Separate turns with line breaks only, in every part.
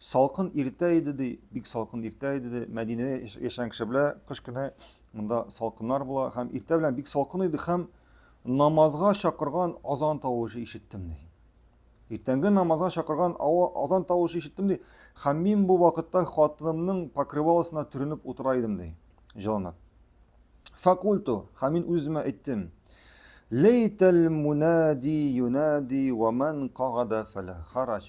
Салкын иртә иде, ди, бик салкын иртә иде, ди. Мәдинә яшәгән кеше белә, кыш көне монда салкыннар була һәм иртә белән бик салкын иде һәм намазга чакырган азан тавышы ишеттем, ди. Иртәнге намазга чакырган азан тавышы ишеттем, ди. Һәм мин бу вакытта хатынымның покрываласына төренеп утыра идем, ди, җылынып. Факульту, һәм мин үземә әйттем, Лейтәл мунади юнади ва ман кагада фәлә харач.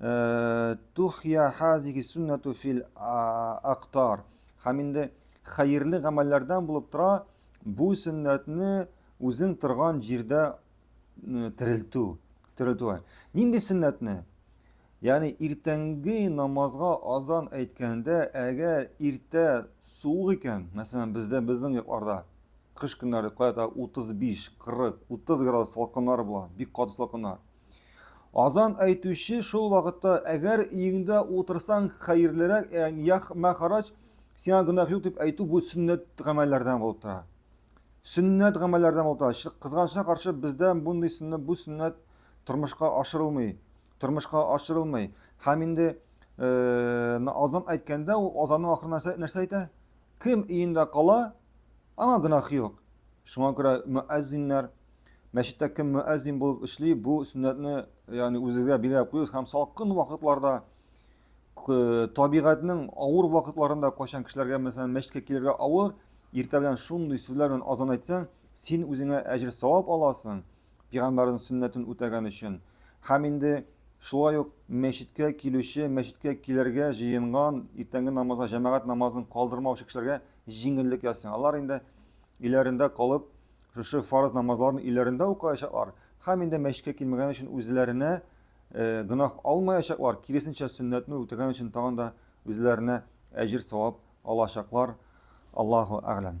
Э, Тухья хазиги суннату фил актар. Һәм инде хәерле гамәлләрдән булып тора бу сөннәтне үзең торган җирдә э, терелтү. Терелтү. Нинди сөннәтне? Ягъни иртәнге намазга азан әйткәндә, әгәр иртә суык икән, мәсәлән, бездә безнең якларда кыш көннәре кайта 35, 40, 30 градус салкыннар була, бик каты салкыннар. Азан әйтүче шул вакытта, әгәр өеңдә утырсаң, хәерлерәк, э, ях мәхараҗ, сиңа гөнаһ юк дип әйтү бу сөннәт гамәлләрдән булып тора. Сөннәт гамәлләрдән булып тора. Кызганычка каршы бездә мондый сөннәт, бу сөннәт тормышка ашырылмый, тормышка ашырылмый. Һәм инде э, азан әйткәндә ул азанның ахырына нәрсә, нәрсә әйтә? Кем өендә кала, аңа гөнаһ юк. Шуңа күрә мөәззиннәр Мәчеттә кем мөәззин булып эшли, бу сөннәтне ягъни үзегезгә билгеләп куегыз һәм салкын вакытларда табигатьнең авыр вакытларында кайчан кешеләргә мәсәлән мәчеткә килергә авыр, иртә белән шундый сүзләр белән азан әйтсәң, син үзеңә әҗер савап аласың, пигамбәрнең сөннәтен үтәгән өчен. Һәм инде шулай ук мәчеткә килүче, мәчеткә килергә җыенган, иртәнге намазга җәмәгать намазын калдырмаучы кешеләргә җиңеллек ясый. Алар инде иләрендә калып Шушы фарыз намазларын өйләрендә укыячаклар һәм инде мәчеткә килмәгән өчен үзләренә э, гөнаһ алмаячаклар, киресенчә сөннәтне үтәгән өчен тагын да үзләренә әҗер савап алачаклар. Аллаһу әгъләм.